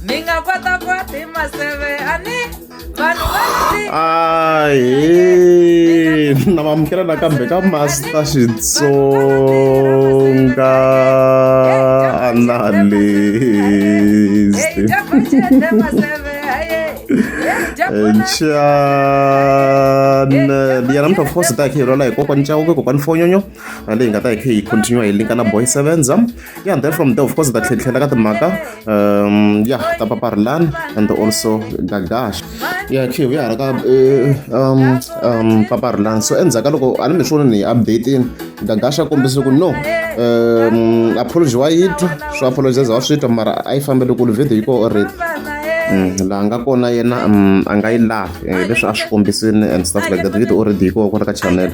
mi nga kwata kwata hi maseve ani vanhu ahe na vamukela nakambe ka master xitsonga analyst channel ya namuntlha of course ta hi khirhela hi kokwani chawuke kokwani fonyonyo na leyi nga ta yi kha yi continue hi linka na boy sevens ya and then from there of course ta tlhetlhela ka timhaka um ya ta paparilani and also gagash ya khiv ya hala ka eh, um um paparilani so endzhaku ka loko a ni mi swo ni hi updatini gagash a kombise ku no um apology wa yi twa swo apologize wa swi twa mara a yi fambele kule video yi ko already Mm, laha nga kona yena mm, a nga yi lavi eh, leswi a swi kombisini and stuff like that video already yi kowa kwala ka channel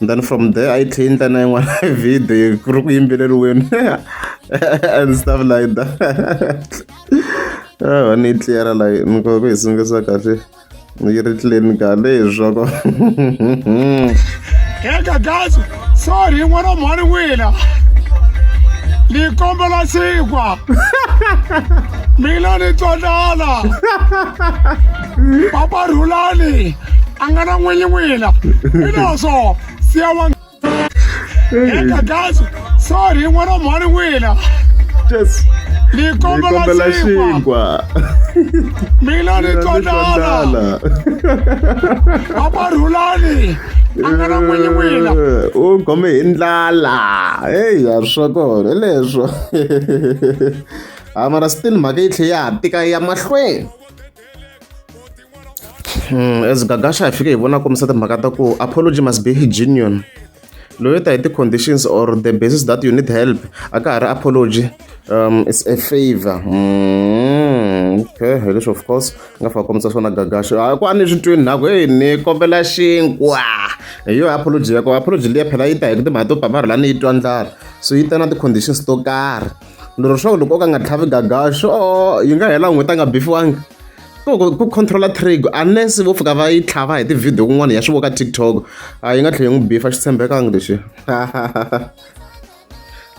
then from there a yi tlhe yi ndla na yin'wana video ku ri ku yimbeleriweni and stuff like that ah, ni yi tliyara la ni kota ku yi sungisa kahle yi ri tlileni kahle hi swoko eka gazi sorry n'wana mhani wina ni kombela xinkwa mina ni twanana papa rhulani a nga na n'winyi wina hileswo siya wa heta gazi sorry n'wana mhani wina ni kombela xinkwa mina ni tondala a va rhulani a nga na n'winyi wina eh, u khome hi ndlala heyi ya swa kona hi leswo a mara still mhaka yi tlhe ya ha tika ya mahlweni Hmm, as gagasha hi fike hi vona kombisa timhaka ta ku apology must be genuine loyo ta hi ti-conditions or the basis that you need help a ka ha ri apology um it's a favor mm, okay hi leswi of course nga fika kombisa swona gagasho a ku a ni swi twini nhaku heyi ni kombela xinkwa hi yo apology ya ko apology leyi phela yi ta hi ku timhaka to pamara la ni yi twa ndlala so yi ta na ti-conditions to karhi ni ri swa ku loko o ka nga tlhavi gagaxo oh, yi nga hela n'hweti a nga bifiwangi ku controla trig unless vo fika va yi tlhava hi tivhidiyo kun'wana ya swi voka tiktok a yi nga tlhela yi n'wi bifa xi tshembekanga lexi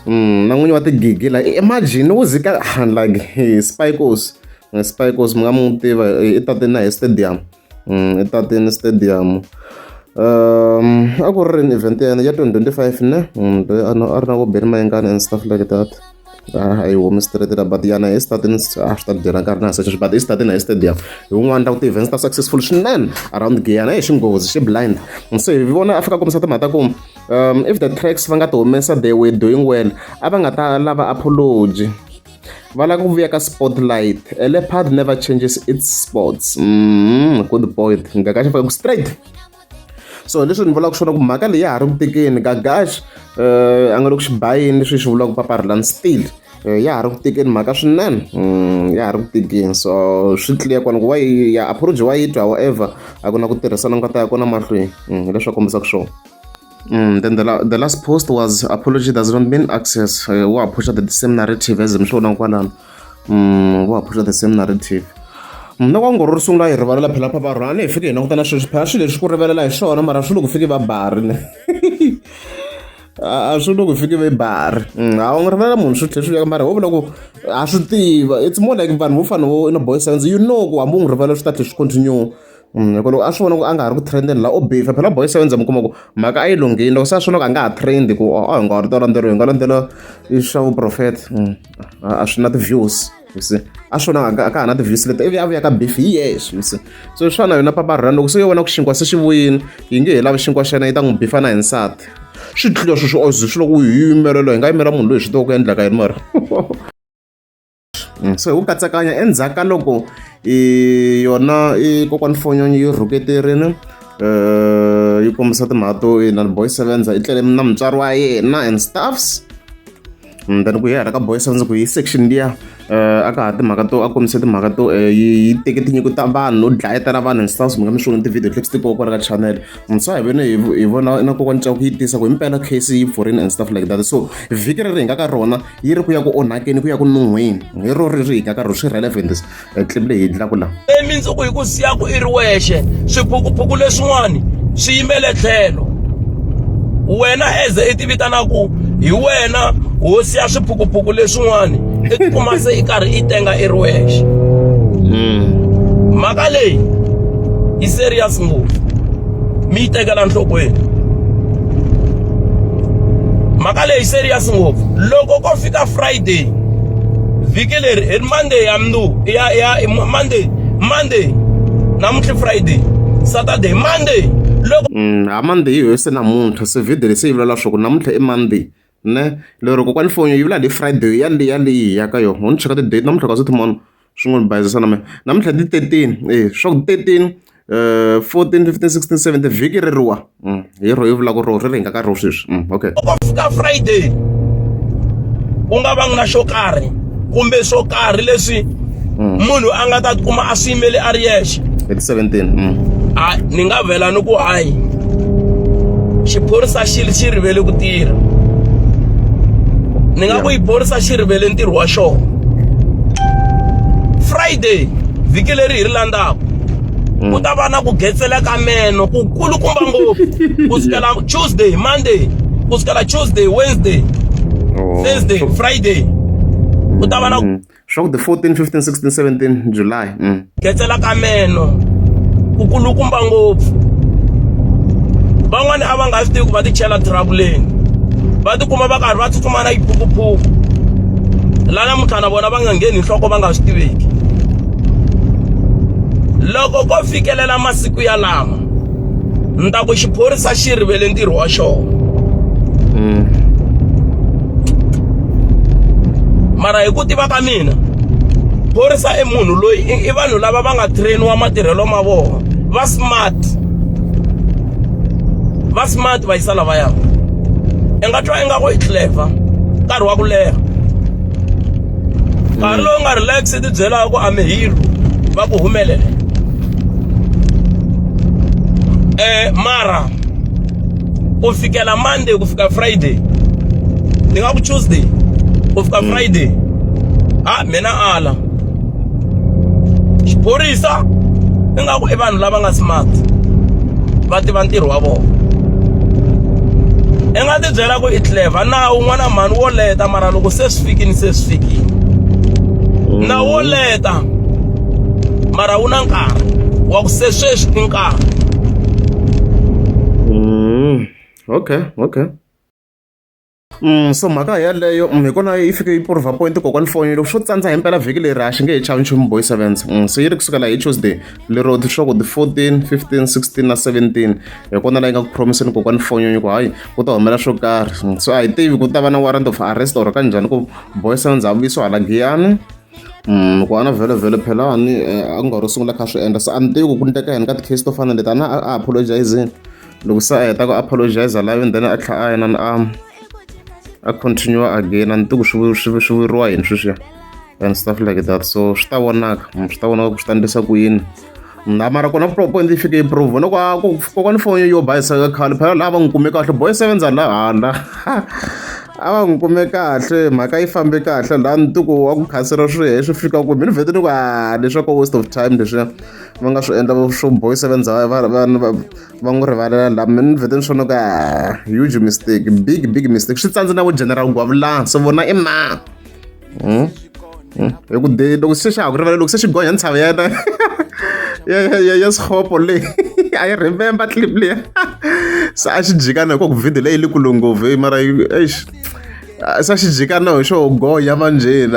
mm, na n'winyi wa tigigi la imagine wo zika like spikos spikos mi nga mu tiva i tate na hi stadium Mm, etateni stadium um a ku ri rini event ya yena ya 2025 ne mm, loyi a ri na vo beni mayengani and stuff like that a yi humi straight la but yana hi stadini a swi ta dyela nkarhi na seswi but i stadini hi stadium hi wun'wana ta ku ti-events ta successful swinene around giyana hi xinghozi xi blind so hi vona a fika kombisa timhaka ta ku um if the tracks va nga ti humesa they were doing well a va nga ta lava apology va lava ku vuya ka spotlight a leopard never changes its sports mm, good point ngakaxa faka ku straight so leswi ni vulaka swona ku mhaka leyi ya ha ri ku tekeni gagash um eh, a nga le ku xi bayini leswi swi vulaka ku paparilani still eh, ya ha ri ku tekeni mhaka swinene mm, ya ha ri ku tekeni so swi tliya kona ku wa ya approach wa yi twa however a ku na ku tirhisana nga ta ya kona mahlweni mm, hi leswi a kombisaka swona Mm, then the, la the last post was apology does not mean access uh, wa phusha the same narrative as mhlona kwalano mm, wa phusha the same narrative mna mm, kwangoro ri sungula hi rivalela phela pha va rhani hi fike hi langutana sweswi phela swilo leswi ku rivelela hi swona mara swi loko fike va bari ne a swi loko fike va bari mm, a wu nga rivelela munhu swi tlhe swi veka mara ho vula ku a swi tiva it's more like vanhu vo fana vo ina boy science you know ku hambi u n'wi rivelela swi ta tlhe swi continue hi ku loko a swi vona ku a nga ha ri ku trendeni la u bifa phela boy seven za mi kuma ku mhaka a yi lunghini loko se a swi vona ku a nga ha trend ku a hi nga ha ri to landzeriwa hi nga landzela swa vuprofeta a swi na ti-views you see a swi vona a ka ha na ti-views leti ivi a vuya ka bifi hi yexe you see so hi swona yona papa run loko se yo vona ku xinkwa se xi vuyini yi nge he lavi xinkwa xa yena yi ta n'wi bifa na hi nsati swi tlula sweswi oze swi loko yi yimelela hi nga yimela munhu loyi swi tiva ku endlaka yini mara se wu katsakanya endzhaku ka loko i yona i kokwani fonyonyi yi rhuketerini um yi kombisa timhaka to yena boy sevenza i tlele na mutswari wa yena and staffs mm, then ku yehara ka boy sevenza ku yi section liya um a ka ha timhaka to a kombise timhaka to eh, yi teke tinyiko ta vanhu no dlayetela vanhu and staffs mi nga mi swona ti-video clips ti koka ka channel mutsa hi vene hi vona na kokwani caku yi tisa ku himpela case yi pfurini and stuff like that so vhiki reri hi nga ka rona yi ri ku ya ku onhakeni ku ya ku nun'hweni hi ro ri ri hikaka ro swi relevant clip leyi endlaku la emindzuku hi ku siyaku i ri wexe swiphukuphuku leswin'wani swi yimele tlhelo wena eze i ti vitanaku hi wena hosi ya swiphukuphuku leswin'wani i ti kuma se i karhi i tenga i ri wexe hmm. mhaka leyi yi serious ngopfu mi yi tekela nhlokweni mhaka leyi serious ngopfu loko ko fika friday vhiki leri hi monday ya mndu ya ya monday monday namuntlha friday saturday monday loko mm, ha monday hi se namuntlha se vhidi lesi yi vulela swa ku namuntlha i monday ne lero kokwani foni yo yivula le friday ya le ya leyi hi ya ka yona ho ni cheka ti-date namuntlha ka swithimona swi n'wi ni bayizisa na mina namuntlha ti thirteen e swa ku thirteen um fourteen fifteen sixteen seventeen vhiki ri riwa mm, hi ro yi vulaka ro ri ri hi nga ka ro sweswi mm, okay loko fika friday ku nga va ngi na xo karhi kumbe swo karhi leswi mm. munhu a nga ta tikuma a swi yimele a ri yexe hi ti 17 mm. a ni nga vela ni ku hayi xiphorisa xi xi rivele ku tirha ni nga ku xiphorisa xi rivele ntirho wa xona friday vhiki leri hi ri landzaka mm. ku ta va na ku getsela ka meno ku kulukumba ngopfu ku sukela tuesday monday ku sukela tuesday wednesday Thursday, so, Friday. U ta va na mm. swa ku the 14, 15, 16, 17 July. Mm. Ketsela ka meno. Ku kulukumba ngopfu. Van'wana a va nga swi tivi ku va ti chela troubleni. Va ti kuma va karhi va tsutsuma na yiphukuphuku. La namuntlha na vona va nga ngheni nhloko va nga swi tiveki. Loko ko fikelela masiku ya lama ni ta ku xiphorisa xi rivele ntirho wa xona mm. mara hi ku tiva ka mina phorisa i munhu loyi i vanhu lava va nga trainiwa matirhelo ma vona va smart va smart va yisa lavaya i nga twa ingaku i clever nkarhi wa ku leha nkarhi lowu nga relax ti byelaka ku a mi hero va ku humelela eh mara u fikela monday ku fika friday ni nga ku tuesday ku fika mm. friday ha mina ala xiphorisa ni nga ku i vanhu lava nga smart va tiva ntirho wa vona i nga ti byela ku i clever nawu n'wana mhani wo leta mara loko se swi fikini se swi fikini mm. na wo leta mara wu na nkarhi wa ku se sweswi i nkarhi mm. okay okay Mm, so mhaka yaleyo mm, hi kona yi fike yi prova point kokwani foni loko swo tsandza hi mpela vhiki leri a xi nge hi chavi nchumu boy sevens mm, so yi ri kusukela hi tuesday lero leswaku ti 14 15 16 na 17 hi kona layi nga ku promiseni kokwani fonyonyo ku hayi ku ta humelela swo karhi so a hi tivi ku ta va na warrant of arrest or ka njhani ku boyisana ndzavuyiso hala giyani Mm, ku ana vhele vhele phelani eh, a nga ro sungula kha swi endla se a ni tivi ku ku ndleka yini ka ti-case to fana leti a na a apologizini loko se a heta ku apologiza live then a tlhela a yena ni am a continue again a ni tiku swi swi swi vuriwa yini sweswiya and stuff like that so swi ta vonaka mm, swi ta vonaka ku swi ta endlisa ku yini na mara kona point yi fike yi prove loko a ku kokwana foni yo bayisa ka khale phela laha va n'wi kume kahle boy sevenza la hala a va n'wi kume kahle mhaka yi fambe kahle laha ni tiku wa ku khasela swi he swi fika ku mi ni vhete ni ku a leswaku waste of time leswiya va nga swi endla swo boy sevenza va va n'wi rivalela la mina ni vhete ni swona ka huge mistake big big mistake swi tsandze na ku general gwavulani so vona i ma hmm? hmm? hi ku de loko se xa ha ku rivalela loko se xi gonya ntshava ya yena ya sikhopo leyi a yi remember clip leya se a xi jikana hikuva ku video leyi yi le kule ngopfu eyi mara eish se a xi jikana hi xo gonya manjheni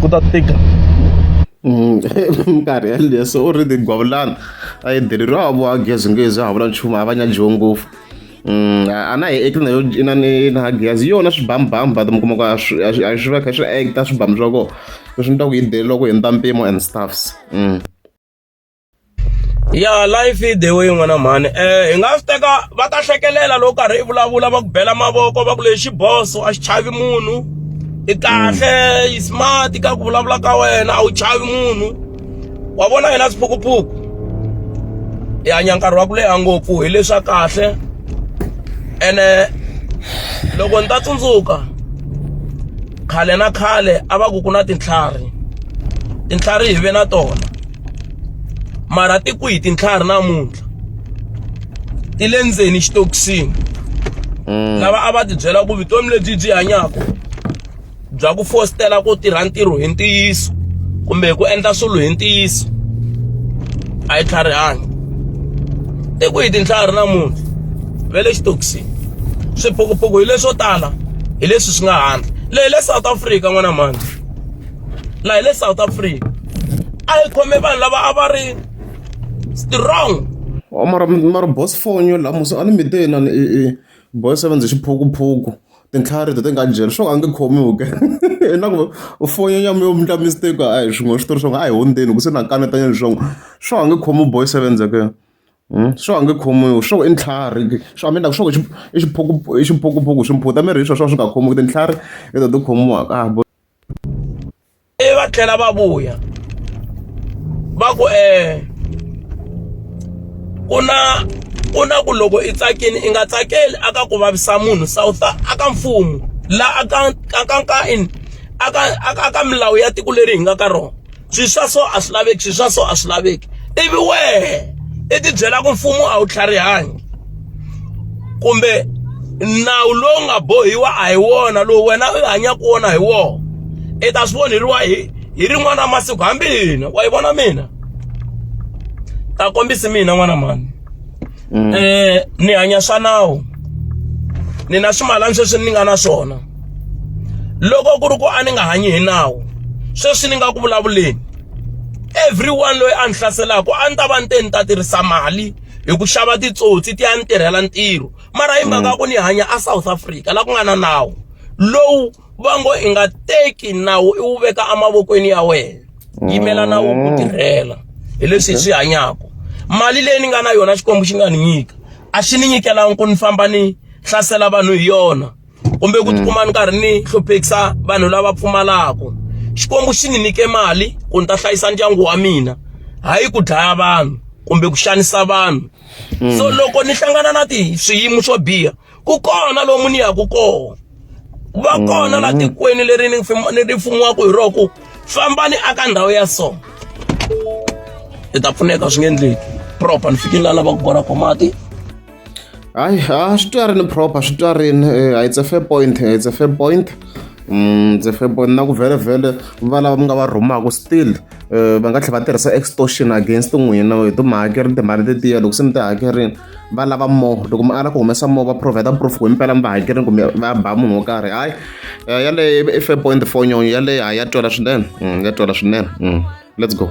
ku ta tika mm, minkarhi yaleyo se u ri ni gwavulana a yi deleriwa a voa gezi ngezi a ha vula nchumu a va nyajiwe ngopfu mm, a na hi ekile nayo ina ni na gezi yona swibambamu but mi kuma ku a swi va kha swi acta swibamu swa kona leswi ni ta ku yi deleriwa ku hundza mpimo and stuffs mm. ya life i the way n'wana mhani um eh, hi nga swi teka va ta hlekelela loko karhi i vulavula va ku bela mavoko va ku lexi boso a xi chavi munhu i kahle yi mm. smart ka ku vulavula ka wena a wu chavi munhu wa vona yena swiphukuphuku hi hanya nkarhi wa ku leha ngopfu hi leswa kahle ene loko ni ta tsundzuka khale na khale a va ku ku na tintlhari tintlhari hi ve na tona mara ti kwihi tintlhari namuntlha ti le ndzeni xitokisini mm. lava a va ti byela ku vutomi lebyi byi hanyaka bya ku fositela ku tirha ntirho hi ntiyiso kumbe ku endla swilo hi ntiyiso a yi tlharihangi i ku hi tintlhari namuntlha ve le xitokisini swiphukuphuku hi leswo tala hi leswi swi nga handle leyi le south africa n'wana mhandle laha le south africa a yi khome vanhu lava a va ri strong oh, mara mara boss phone yo lamusa a ni mi te na ni i boy seven ndzi xiphukuphuku tintlhari to ti nga jeli swo a nge khomiwi ke na ku foni ya mi yo mndla mistake a hi swin'we switori swa a hi hundzeni ku se na kanetanya leswaku swo a nge khomiwi boy seven ke hmm? swo a nge khomiwi swo i ntlhari swo mi endlaku swo i xiphukuphuku swi mphuta miri hi swo swo swi nga khomiwi tintlhari i to ti khomiwaka ah, ivi va tlhela va vuya va ku eh ku na ku na ku loko i tsakini i nga tsakeli aka ku vavisa munhu south aka mfumo la aka aka ka in aka aka milawu ya tiko leri hi nga ka rona swi swa so a swi laveki swi swa so a swi laveki ivi wehe i tibyela ku mfumo a wu tlharihangi kumbe nawu lowu nga bohiwa a hi wona lowu wena u hanyaka wona hi wona i ta swi voneriwa hi hi rin'wana masiku hambi hina wa yi vona mina ta kombisi mina n'wana mani mm. eh ni hanya swa nawu ni na swimalani sweswi ni nga na swona loko ku ri ku a ni nga hanyi hi nawu sweswi ni nga ku vulavuleni everyone loyi a ni hlaselaku a ni ta va ni te ni ta tirhisa mali hi ku xava titsotsi ti ya ni tirhela ntirho mara hi mhaka mm. ku ni hanya a south africa la ku nga na nawu lowu va ngo i nga teki nawu i wu veka emavokweni ya wena yimela nawu ku mm. tirhela hi leswi hi swi hanyaka mali leyi ni nga na yona xikwembu xi nga ni nyika a xi ni nyikelangi ku ni famba ni hlasela vanhu hi yona kumbe ku mm. tikuma ni karhi ni hluphekisa vanhu lava pfumalaka xikwembu xi ni nyike mali ku ni ta hlayisa ndyangu wa mina hayi ku dlaya vanhu kumbe ku xanisa vanhu mm. so loko ni hlangana na ti swiyimo swo biha ku kona lomu ni yaku kona va kona la mm. tikweni leri ni ri fumiwaka hi roho ku fambani aka ndhawu ya so hi ta pfuneka swi nge endleki proper ni fikile la lavaka kona ko mati hayi a swi twarini proper swi twarini eh, it's a fair point eh, it's a fair point mm, ndzi febon na ku vhelevhele va lava mi nga va rhumaka still eh, va nga tlhela va tirhisa extortion against n'wina hi ti mi hakerile timali tetiya loko se mi ti hakerile va lava more loko mi ala ku humesa more va provide proof ku himpela mi va hakerini kumbe va ba munhu wo karhi hayi eh, yaleyo i fair point four nyonyo yaleyo hayi ya twela swinene mm, ya twela swinene mm, let's go